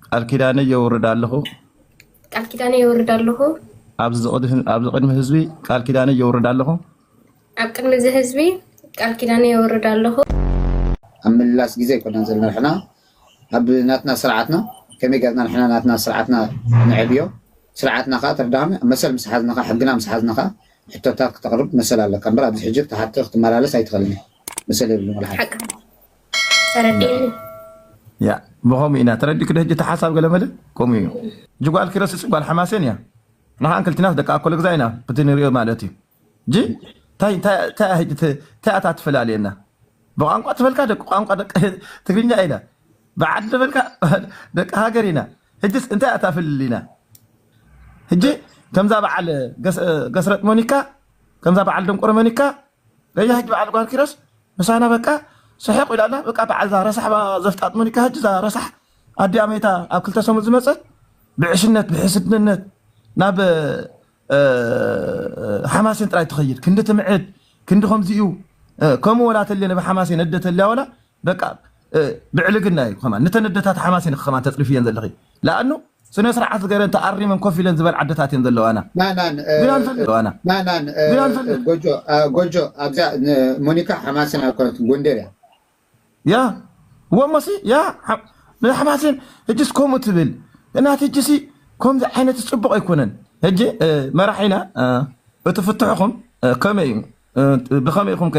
ቃል ኪዳነይ የውርድ ኣለኹ። ቃል ኪዳነይ የውርድ ኣለኹ። ኣብዚ ቅድሚ ህዝቢ ቃል ኪዳነይ የውርድ ኣለኹ። ኣብ ቅድሚ እዚ ህዝቢ ቃል ኪዳነይ የውርድ ኣለኹ። ኣብ ምልላስ ግዜ ኣይኮናን ዘለና ንሕና ኣብ ናትና ስርዓትና ከመይ ገርና ንሕና ናትና ስርዓትና ንዕብዮ ስርዓትና ከዓ ተርዳሚ መሰል ምስ ሓዝና ከዓ ሕግና ምስ ሓዝና ከዓ ሕቶታት ክተቕርብ መሰል ኣለካ እምበር ኣብዚ ሕጂ ክትሓቲ ክትመላለስ ኣይትኽእልን መሰል የብሉን ወላ ሓደ ተረዲእኒ ያ ብኸምኡ ኢና ተረዲእኪ ዶ ሕጂ እቲ ሓሳብ ገለመለ ከምኡ እዩ እጂ ጓል ኪሮስ እፅ ጓል ሓማሴን እያ ንሓን ክልቲናስ ደቂ ኣኮለግዛ ኢና ብቲ ንሪኦ ማለት እዩ እጂ እንታይ እንታይ እንታይ እያ ሕጂ ተ- እንታይ እታ ትፈላልየና ብቋንቋ ትፈልካ ደቂ ቋንቋ ደቂ ትግርኛ ኢና ብዓዲ ተፈልካ ደቂ ሃገር ኢና ሕጂስ እንታይ እያ እታ ፍልልይና ሕጂ ከምዛ በዓል ገስ- ገስረጥ መኒካ ከምዛ በዓል ደንቆሮ መኒካ ለያህጅ በዓል ጓል ኪሮስ ምሳና በቃ ስሕቕ ኢላ ኣላ በቃ በዓል እዛ ረሳሕ ዘፍጣጥ ሞኒካ ህጅ እዛ ረሳሕ ኣዲኣ መይታ ኣብ ክልተ ሰሙን ዝመፀት ብዕሽነት ብሕስድነት ናብ ሓማሴን ጥራይ ትኸይድ ክንዲ ትምዕድ ክንዲ ከምዚ እዩ ከምኡ ወላ ተልየ ናብ ሓማሴን እደ ተልያ ወላ በቃ ብዕልግና እዩ ከማን ንተን ኣደታት ሓማስ ኢንኺ ከማን ተጽርፍየን ዘለኺ ለኣኑ ስነ ስርዓት ገረን ተኣሪመን ኮፍ ኢለን ዝበል ዓደታት እየን ዘለዋና ናናን ግን ኣንተ ኣለዋና ናናን ግን ኣንተ ኣለ ጎጆ ጎጆ ኣብዛ ሞኒካ ሓማስን ኣኮነት ጎንደር እያ ያ ወሞሲ ያ ንሓማስን እጅስ ከምኡ ትብል እናት እጅሲ ከምዚ ዓይነት ፅቡቅ ኣይኮነን ሕጂ መራሒና እቲ ፍትሕኹም ከመይ እዩ ብኸመይ ኢኹም ከ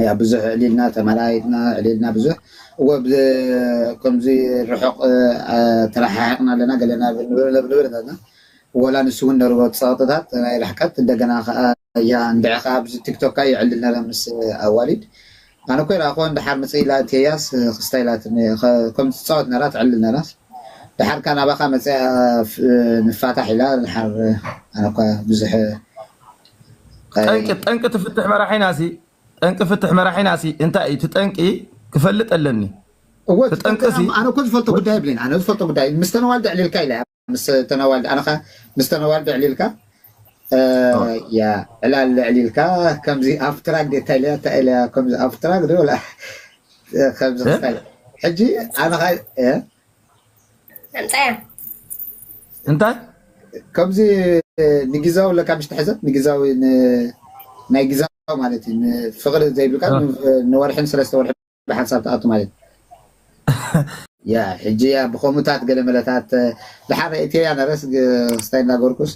እያ ብዙሕ ዕሊልና ተመራይጥና ዕሊልና ብዙሕ እወ ከምዚ ርሑቕ ተረሓሕቕና ኣለና ገለና ንብረታትና ወላ ንሱ እውን ነርዎ ፀቕጥታት ናይ ርሕቀት እንደገና ከዓ እያ እንድዒ ከዓ ኣብዚ ቲክቶካ ይዕልል ነረ ምስ ኣዋሊድ ኣነ እኮ ይረኣኹዋ ንድሓር መፅኢ ኢላ እትያስ ክስታይ ኢላትኒ ከም ትፃወት ነራ ትዕልል ነራስ ድሓር ከዓ ናባኻ መፅኣ ንፋታሕ ኢላ ድሓር ኣነ እኳ ብዙሕ ጠንቂ ጠንቂ እቲ ፍትሕ መራሒና ሲ ጠንቂ ፍትሕ መራሒና ሲ እንታይ እዩ? እቲ ጠንቂ ክፈልጥ ኣለኒ። እወ እቲ ጠንቂ ሲ ኣነ እኮ ዝፈልጦ ጉዳይ የብለይን። ኣነ ዝፈልጦ ጉዳይ ምስ ተነዋልድ ዕሊልካ ኢለ ምስ ተነዋልድ ኣነ ከ ምስ ተነዋልድ ዕሊልካ ያ ዕላል ዕሊልካ ከምዚ ኣብ ትራክ ደ እንታይ ኢለያ እንታይ ኢለያ ከምዚ ኣብ ትራክ ዶ ወላ ከምዚ ክስታይ ሕጂ ኣነ ከ ኣምፃያ እንታይ ከምዚ ንግዛዊ ኣለካ ምሽ ትሕዘብ ንግዛዊ ናይ ግዛዊ ማለት እዩ ፍቅሪ ዘይብልካ ንወርሕን ሰለስተ ወርሒ ብሓንሳብ ትኣቱ ማለት እዩ ያ ሕጂ ያ ብከምኡታት ገለ መለታት ድሓር እትያ ነረስ ክስታይ እንዳገርኩስ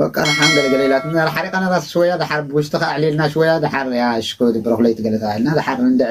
በቃ ንሓን ገለገለ ኢላትና ሓሪቃና ራስ ሽወያ ድሓር ብውሽጢ ከኣዕሊልና ሽወያ ድሓር ያ ሽኮ ድብረክለይ ትገለታ ኢልና ድሓር ንድዐ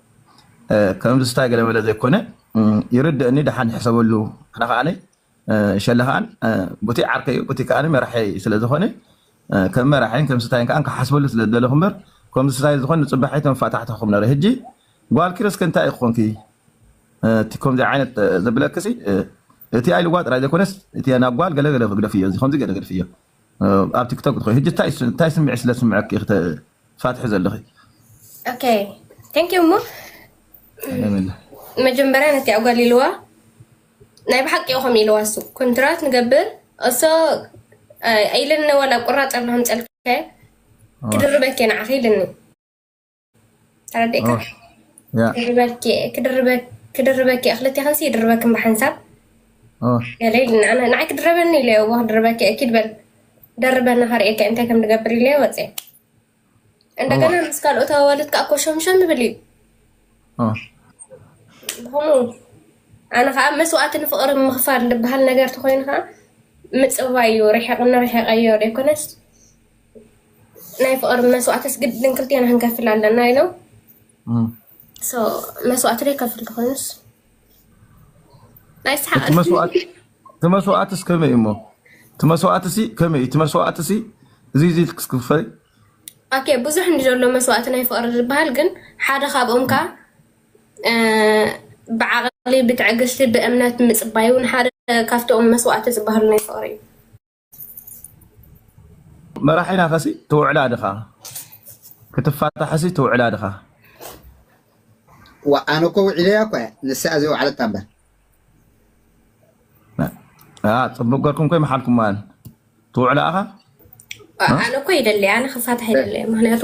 ከምዚ ስታይ ገለ መለ ዘይኮነ ይርደእኒ ደሓን ይሕሰበሉ ኣነ ከኣ ሸለ ከኣ ቡቲይ ዓርከይ እዩ ቡቲይ ከኣ መራሐይ ስለ ዝኮነ ከም መራሐይን ከም ስታይን ከኣ ክሓስበሉ ስለ ዝደለኩ እምበር ከምዚ ስታይ ዝኮን ንጽባሕ ኣይተመፋታሕተኩም ነረ ህጂ ጓል ኪሮስ ከ እንታይ ኮንኪ እቲ ከምዚ ዓይነት ዘብለክሲ እቲ ኣይልዋ ጥራይ ዘይኮነስ እቲ ናብ ጓል ገለ ገለ ክግደፍ እዩ እዚ ከምዚ ገለ ገደፍ እዩ ኣብ ቲክቶክ ትኾይ ሕጂ እንታይ ስምዒት ስለ ዝስምዐኪ ኢኺ ትፋትሒ ዘለኺ? ኦኬ ቴንክ ዩ እሞ መጀመርያ ነቲ ኣጓል ኢልዋ ናይ ብሓቂ ኢኹም ኢልዋ እሱ ኮንትራት ንገብር እሶ ኢልኒ ዋላ ቁራፅ ኣለኹም ፀልከ ክድርበኪ ንዓኺ ኢልኒ ተረዲእካ ክድርበኪ ክልተ ከልሲ ይድርበክም ብሓንሳብ ገለ ኢልና ንዓይ ክድረበኒ ኢለ እዎ ክድርበኪ ኪድ በል ደርበና ከርእየካ እንታይ ከም ንገብር ኢለ ወፀ እንደገና ምስ ካልኦት ኣዋልድ ከዓ ኮሸምሸም ይብል እዩ ከምኡ ኣነ ከዓ መስዋእቲ ንፍቅሪ ምኽፋል ዝበሃል ነገር ተኮይኑ ከዓ ምፅባይ እዩ ርሕቕ ንርሕቐዮ ዘይኮነስ ናይ ፍቅሪ መስዋእትስ ግድን ክልቴና ክንከፍል ኣለና ኢሎም መስዋእቲ ዶ ይከፍል ትኮይኑስ ናይ ሰሓቅ መስዋእትስ ከመይ እሞ መስዋእትሲ ከመይ እቲ መስዋእትሲ እዚ እዚ ክስክፈይ ኦኬ ብዙሕ እንዲ ዘሎ መስዋእቲ ናይ ፍቅሪ ዝበሃል ግን ሓደ ካብኦም ከ ብዓቕሊ ብትዕግስቲ ብእምነት ምፅባይ እውን ሓደ ካብቶም መስዋእቲ ዝበሃሉ ናይ ፍቅሪ እዩ መራሒና ከሲ ትውዕላ ድኻ ክትፋታሕሲ ትውዕላ ድኻ ኣነ እኮ ውዒለያ እኮ ንሳ ዘይውዓለት እምበር ፅቡቅ ገርኩም ኮይ መሓልኩም ማን ትውዕላ ኣኻ ኣነ እኮ ይደለ ኣነ ክፋታሕ ይደለ ምክንያቱ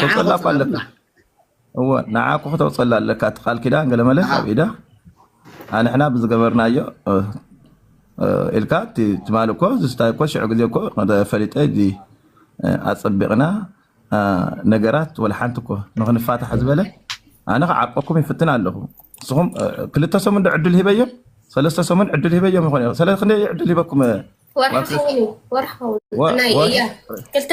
ተውፀላ እኳ ኣለካ እወ ንዓኩ ክተውፀላ ኣለካ እቲ ቃል ኪዳን ገለመለ ኣብ ኢዳ ኣንሕና ብዝገበርናዮ ኢልካ ትማሊ እኮ ዝስታይ እኮ ሽዑ ግዜ እኮ ፈሊጠ እዚ ኣፀቢቕና ነገራት ወላ ሓንቲ እኮ ንክንፋታሕ ዝበለ ኣነ ክዓርቀኩም ይፍትን ኣለኹ ንስኹም ክልተ ሰሙን ዶ ዕድል ሂበዮም ሰለስተ ሰሙን ዕድል ሂበዮም ይኾን ሰለ ክንደይ ዕድል ሂበኩም ወርሒ ክልተ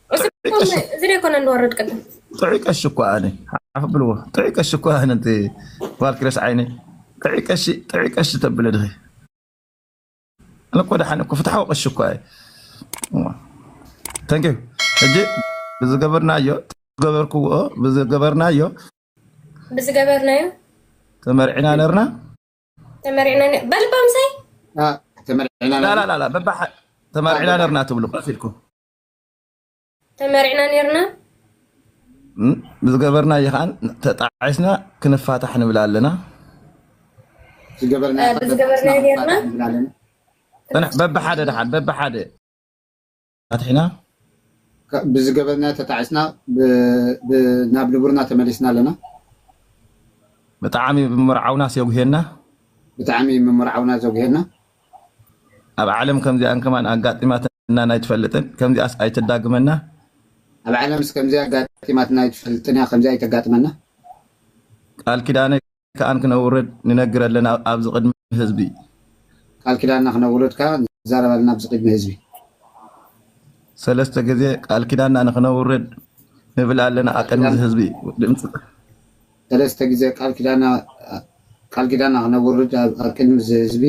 እዚ ዘይኮነ ንወርድ ቅድም ጥዑይ ቀሺ እኮ ኣነ ሓፍ ብልዎ ጥዑይ ቀሺ እኮ ኣነ እቲ ጓል ክረስ ዓይነ ጥዑይ ቀሺ ጥዑይ ቀሺ ተብለ ድኺ ኣነ እኮ ደሓን እኮ ፍትሓዊ ቀሺ እኮ እየ ተንኪ ሕጂ ብዝገበርናዮ ዝገበርክዎ ብዝገበርናዮ ብዝገበርናዮ ተመርዕና ነርና ተመርዕና በልባምሳይ ተመርዕና ነርና ትብሉ ቀፊልኩም ተመሪዕና ነርና ዝገበርና እዩ ከዓ ተጣዒስና ክንፋታሕ ንብል ኣለና ዝገበርና ነርና በብሓደ ድሓን በብሓደ ፋትሒና ብዝገበርና ተጣዒስና ናብ ንቡርና ተመሊስና ኣለና ብጣዕሚ ብምርዓውና ስየጉሄና ብጣዕሚ ምምርዓውና ዘጉሄና ኣብ ዓለም ከምዚኣን ከማን ኣጋጢማት ኣጋጢማትና ኣይትፈልጥን ከምዚኣስ ኣይተዳግመና። ኣብ ዓለምስ ከምዚ ኣጋጢማትና ኣይትፈልጥን እያ ከምዚ ኣይተጋጥመና። ቃል ኪዳነ ከኣን ክነውርድ ንነግር ኣለና ኣብዚ ቅድሚ ህዝቢ። ቃል ኪዳና ክነውርድ ከኣ ንዛረብ ኣለና ኣብዚ ቅድሚ ህዝቢ። ሰለስተ ግዜ ቃል ኪዳና ንክነውርድ ንብል ኣለና ኣብ ቅድሚ ህዝቢ። ሰለስተ ግዜ ቃል ኪዳና ክነውርድ ኣብ ቅድሚ እዚ ህዝቢ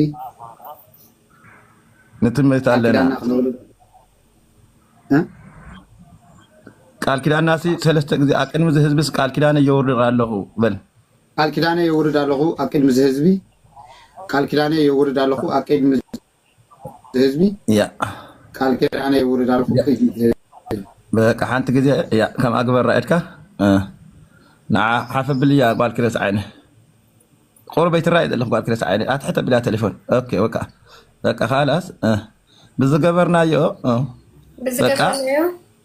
ንጥምት ቃል ኣለና ኪዳና ክነውርድ እ ቃል ኪዳናሲ ሰለስተ ግዜ ኣብ ቅድሚ እዚ ህዝቢስ ቃል ኪዳነይ የውርድ ኣለኹ በል ቃል ኪዳነይ የውርድ ኣለኹ ኣብ ቅድሚ እዚ ህዝቢ ቃል ኪዳነይ የውርድ ኣለኹ ኣብ ቅድሚ ህዝቢ ያ ቃል ኪዳነ ይውርድ ኣልኩም ያ ክይ ትብል በቃ ሓንቲ ግዜ ያ ከምኣ ግበራ ኢድካ እ፣ ንዓ ሓፍ ኣብልያ ጓል ክረስ ዓይነ ቁርበይ ትራይ ዘለኹ ጓል ክረስ ዓይነ ኣትሕት ኣብልያ ቴሌፎን ኦኬ ወቃ በቃ ካላስ እ፣ ብዝገበርናዮ እ፣ በቃ ብዝገበርናዮ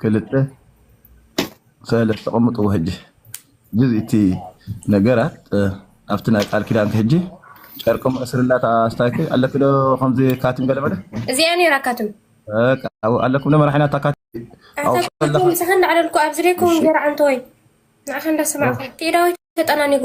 ክልተ ሰለስተ ቅምጥዎ ሕጂ ግዝ እቲ ነገራት ኣብቲ ናይ ቃል ኪዳንኪ ሕጂ ጨርቂ መእስርላ ኣስታይኪ ኣለኪ ዶ ከምዚ ካትም ገለመለ እዚኣ ነይራ ካትም ኣለኩም ዶ መራሒና እታ ካትም ምሳኻ እንዳዕለልኩ ኣብዚ ደይከውን ገይራ ዓንተወይ ንዓኻ እንዳሰማዕኹ ትኢዳወይ ተጠናኒጉ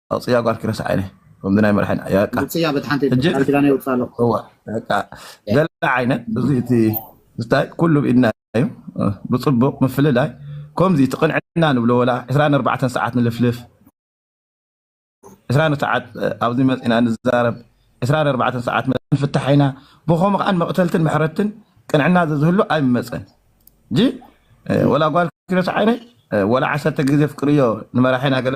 ኣውፅያ ጓልኪ ረስዓኒ ከምዚ ናይ መራሒ ውፅያ በት ሓንቲ ቃል ኪዳነ ይውፅእ ኣለኩ ገለ ዓይነት እዚ እቲ ስታይ ኩሉ ብኢድና እዩ ብፅቡቅ ምፍልላይ ከምዚ እቲ ቅንዕና ንብሎ ወላ 24 ሰዓት ንልፍልፍ 2 ሰዓት ኣብዚ መፅና ንዛረብ 24 ሰዓት ንፍታሕ ኢና ብከምኡ ከዓ መቅተልትን ምሕረትን ቅንዕና ዘዝህሉ ኣይመፀን ጂ ወላ ጓል ክረስዓኒ ወላ ዓሰርተ ግዜ ፍቅርዮ ንመራሒና ገለ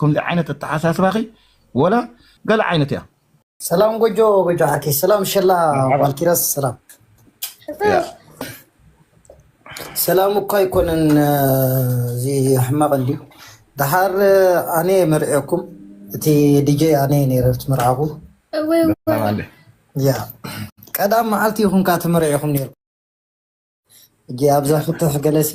ከምዚ ዓይነት ኣተሓሳስባኺ ወላ ገለ ዓይነት እያ። ሰላም ጎጆ ጎጆ ዓርከይ ሰላም ሸላ ጓል ኪሮስ ሰላም ሰላም እኳ ኣይኮነን እዚ ሕማቕ እንድዩ ድሓር ኣነ መርዕኩም እቲ ዲጀ ኣነ ነረ ትምርዓኹ ያ ቀዳም መዓልቲ ይኹንካ ተመርዒኹም ነርኩም እጂ ኣብዛ ፍትሕ ገለሲ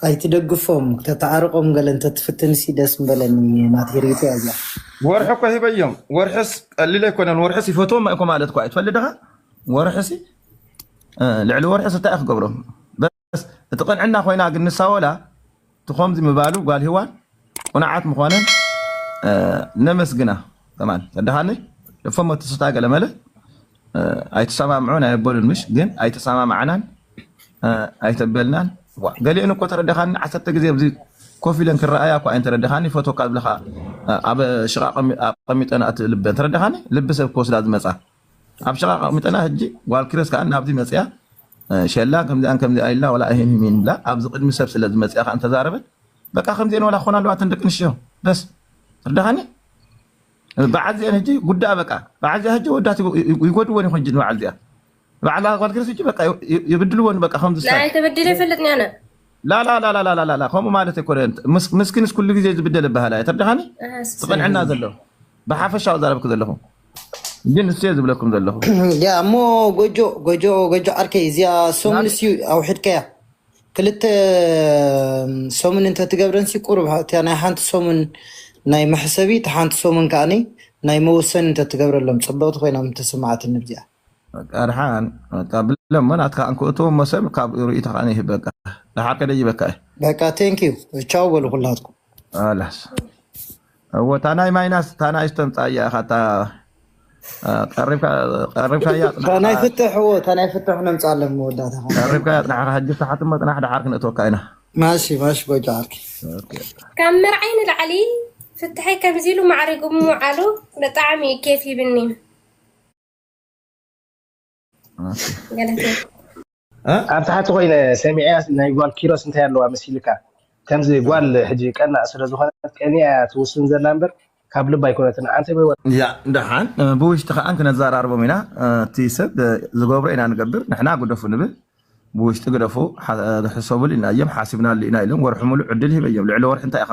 ኣይትደግፎም ከተዓርቆም ገለ እንተትፍትንሲ ደስ ምበለኒ ናተይ ሪኢቶ እያ እዚኣ ወርሒ እኮ ሂበዮም ወርሕስ ቀሊል ኣይኮነን ወርሕስ ይፈትዎም እኮ ማለት እኮ ኣይትፈልጥ ዲኻ ወርሕሲ ልዕሊ ወርሕስ እንታይ ክገብሮም እቲ ቅንዕና ኮይና ግን ንሳ ወላ እቲ ከምዚ ምባሉ ጓል ሂዋን ቁንዓት ምኮነን ነመስግና ከማን ተዳሃኒ ልፎሞ ትስታ ገለመለ ኣይትሰማምዑ ናይ ኣበሉን ምሽ ግን ኣይተሰማማዕናን ኣይተበልናን ገሊኡን እኮ ተረዳኻኒ ዓሰርተ ግዜ ኣብዚ ኮፍ ኢለን ክረኣያ እኮ እየን ተረዳኻኒ ፈትወካ ዝብለካ ኣብ ሽቃ ኣቀሚጠን ኣቲ ልበን ተረዳኻኒ ልቢ ሰብ ክወስዳ ዝመፃ ኣብ ሽቓ ኣቐሚጠና ሕጂ ጓል ኪሮስ ከኣ ናብዚ መጺኣ ሸላ ከምዚኣን ከምዚኣ ኢልና ወላ እሂንሂን ኢላ ኣብዚ ቅድሚ ሰብ ስለ ዝመጺኣ ከኣ እንተዛረበት በቃ ከምዚኤን ወላ ክኾና ኣለዋ እተን ደቂ ኣንስትዮ በስ ርዳኻኒ በዓል ዚኤን ሕጂ ጉዳኣ በቃ በዓል ዚኣ ሕጂ ወዳት ይጎድወን ይኹን ሕጂ ንበዓል ዚኣ በዓል ጓል ኪሮስ ሕጂ በቃ ይብድልወን በቃ ከምዚ ናይ ሳይ ተበዲለ ይፈልጥ ኒያነ ላላላላላላላ ከምኡ ማለት ኣይኮነን ምስ- ምስኪንስ ኩሉ ግዜ ዝብደል ይበሃላ እየ ተርድኻኒ እህስ እቲ ቅንዕና ዘለዎ ብሓፈሻዊ ዛረብክ ዘለኹ ግን ንሱ እየ ዝብለኩም ዘለኹ ያ እሞ ጎጆ ጎጆ ጎጆ ዓርከይ እዚያ ሰሙን እስዩ ኣውሒድካያ ክልተ ሰሙን እንተትገብረን ሲ ቁሩብ እቲያ ናይ ሓንቲ ሰሙን ናይ መሕሰቢ እቲ ሓንቲ ሰሙን ከዓኒ ናይ መወሰኒ እንተትገብረሎም ፅብቕቲ ኮይና ምተሰማዓትኒ ብዚኣ በቃ ደሓን በቃ ብለሞ ናትካ እንክእትዎ እሞ ሰብ ካብ ርእይቶ ከኣ ይህብ በቃ ደሓር ከደይበካ እዩ በቃ ቴንክ ዩ ቻው በሉ ኩላትኩም ኣላስ እዎ እታ ናይ ማይናስ እታ ናይ ዝተምፃያ ኢኻ እታ ቀሪብካያ እታ ናይ ፅናሕካ ፍትሕ እዎ እታ ናይ ፍትሕ ነምፃ ኣለን መወዳእታ ከ ቀሪብካያ ፅናሕካ ሕጂ ፍታሓት እሞ ፅናሕ ደሓር ክንእትወካ ኢና ማሺ ማሺ ጎጆ ዓርኪ ኦኬ ካብ መርዓይ ንላዕሊ ፍትሐይ ከምዚ ኢሉ ማዕሪጉ ምውዓሉ ብጣዕሚ እዩ ኬፍ ይብኒ ኣብ ታሕቲ ኮይነ ሰሚዐያ ናይ ጓል ኪሮስ እንታይ ኣለዋ መሲልካ ከምዚ ጓል ሕጂ ቀናእ ስለ ዝኾነት ቀኒያ እያ ትውስን ዘላ እምበር ካብ ልባ ኣይኮነትን ሓንቲ እያ ደሓን ብውሽጢ ከዓ ክነዘራርቦም ኢና እቲ ሰብ ዝገብሮ ኢና ንገብር ንሕና ግደፉ ንብል ብውሽጢ ግደፉ ሕሰቡሉ ኢና እዮም ሓሲብናሉ ኢና ኢሎም ወርሒ ሙሉእ ዕድል ሂበ እዮም ልዕሊ ወርሒ እንታይ ኢኻ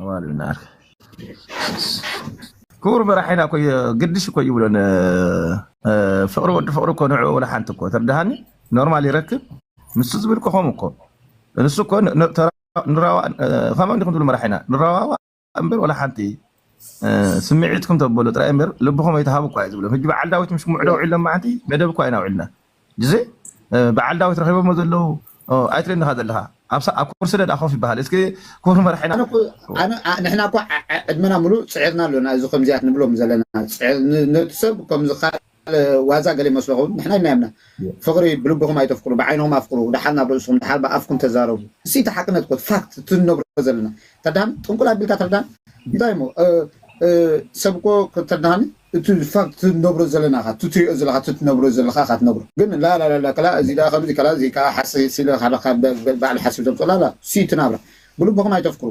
ኣዋልድ ናት ክቡር መራሒና እኮ ግድሽ እኮ ይብሎን ፍቅሪ ወዲ ፍቅሪ እኮ ንዕኡ ወላ ሓንቲ እኮ ተርድሃኒ ኖርማል ይረክብ ንሱ ዝብል እኮ ከምኡ እኮ ንሱ እኮ ን- ተራ- ንራዋ- ከመ እንዲኩም ትብሉ መራሒና ንራዋዋ እምበር ወላ ሓንቲ እ፣ ስምዒትኩም ተበሉ ጥራይ እምበር ልብኹም ኣይትሃቡ እኳ እዩ ዝብሎም ሕጂ በዓል ዳዊት ምስ ምዕዶ ውዒሎም መዓንቲ መደብ እኳ ኢና ውዒልና እዚ በዓል ዳዊት ረኺቦሞ ዘለዉ ኣይትሪእን ኢኻ ዘለኻ ኣብ ኩርሲ ደኣ ኮፍ ይበሃል እስኪ ክቡር መራሒና ኣነ እኮ ኣነ ኣ- ንሕና እኮ ዓ- ዓ- ዕድመና ምሉእ ፅዒርና ኣሎና እዚ ከምዚያት ንብሎም ዘለና ፅዕ- ን- ነቲ ሰብ ከምዚ ካልእ ዋዛ ገለ ይመስሎ ኸውን ንሕና ኢልና የምና ፍቕሪ ብልብኹም ኣይተፍቅሩ ብዓይንኹም ኣፍቅሩ ድሓር ናብ ርእስኹም ድሓር ብኣፍኩም ተዛረቡ እሲ እቲ ሓቅነት እኮ ፋክት እቲ ንነብሮ ዘለና ተዳን ጥንቁል ኣቢልካ ተርዳን እንታይ እሞ እ- እ፣ ሰብ እኮ ከተርዳሃኒ እቲ ፋክት ትነብሮ ዘለና እካ ትትሪኦ ዘለካ ትትነብሮ ዘለካ እካ ትነግሮ ግን ላላላላ ከላ እዚ ደኣ ከምዚ ከላ እዚ ከኣ ሓሰ ስለ ሃለካ ባዕሉ ሓስብ ዘምጾ ላላ ሲ እቲ ናብራ ብልብኩም ኣይተፍክሩ።